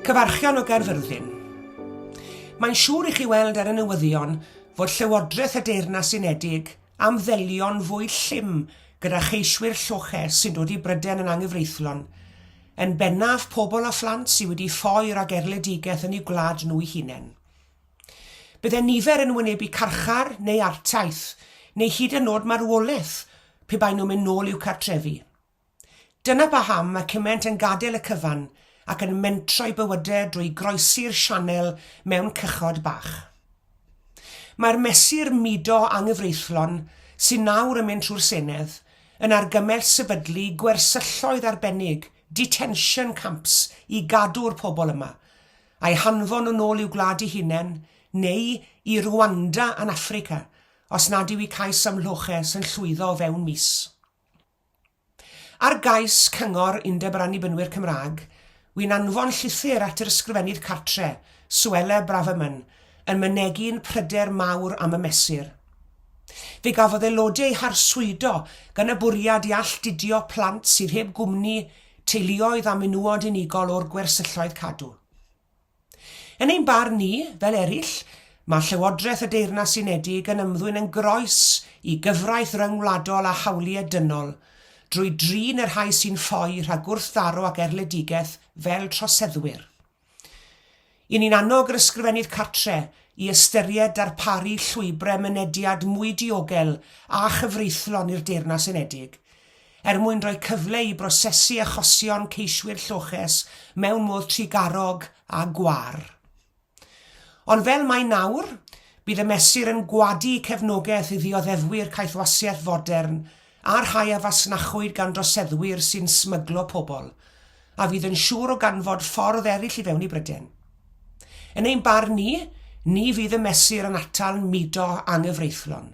Cyfarchion o Gaerfyrddin. Mae'n siŵr i chi weld ar y newyddion fod Llywodraeth y Deyrnas Unedig am ddelio'n fwy llym gyda cheiswyr lloche sy'n dod i Bryden yn anghyfreithlon, yn bennaf pobl a phlant sydd wedi ffoi rhag erledigaeth yn eu gwlad nhw'u hunain. Byddai nifer yn wynebu carchar neu artaith, neu hyd yn nod marwolaeth pe baen nhw'n mynd nôl i'w cartrefi. Dyna paham mae cymaint yn gadael y cyfan ac yn mentro'u bywydau drwy groesi'r sianel mewn cychod bach. Mae'r mesur mudo anghyfreithlon sy'n nawr yn mynd trwy'r Senedd yn argymell sefydlu gwersylloedd arbennig, detention camps, i gadw'r pobl yma, A'i hanfon yn ôl i'w gwlad ei hunain, neu i Rwanda yn Affrica, os nad yw 'i cais am loches yn llwyddo o fewn mis. Ar gais Cyngor Undeb yr Annibynwyr Cymraeg, wy'n anfon llythyr at yr Ysgrifennydd Cartre, Suella Braverman, yn mynegi'n pryder mawr am y mesur. Fe gafodd aelodau eu harswydo gan y bwriad i alltudio plant sydd heb gwmni teuluoedd a menywod unigol o'r gwersylloedd cadw. Yn ein barn ni, fel eraill, mae Llywodraeth y Deyrnas Unedig yn ymddwyn yn groes i gyfraith ryngwladol a hawliau dynol, drwy drin y rhai sy'n ffoi rhag gwrthdaro ac erledigaeth fel troseddwyr. I ni'n annog yr Ysgrifennydd Cartre i ystyried darparu llwybrau mynediad mwy diogel a chyfreithlon i'r Deyrnas Unedig, er mwyn rhoi cyfle i brosesu achosion ceiswyr lloches mewn modd trugarog a gwar. Ond fel mae nawr, bydd y Mesur yn gwadu cefnogaeth i ddioddefwyr caethwasiaeth fodern a rhai a fasnachwyd gan droseddwyr sy'n smyglo pobl, a fydd yn siŵr o ganfod ffordd eraill i fewn i Bryden. Yn ein barn ni, ni fydd y Mesur yn atal mudo anghyfreithlon.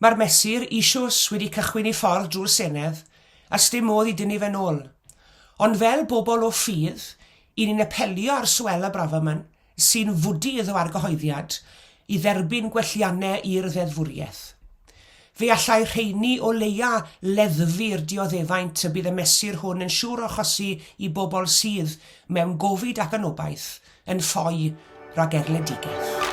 Mae'r Mesur eisios wedi cychwyn ei ffordd drwy'r Senedd, a sdim modd i dynnu fe'n ôl. Ond fel bobl o ffydd, 'yn ni'n apelio ar Suella Braverman, sy'n fwdu iddo argyhoeddiad i dderbyn gwelliannau i'r ddeddfwriaeth. Fe allai rheiny o leia leddfu'r dioddefaint y bydd y mesur hwn yn siŵr o achosi i bobl sydd mewn gofid ac yn obaith yn ffoi rhag erledigaeth.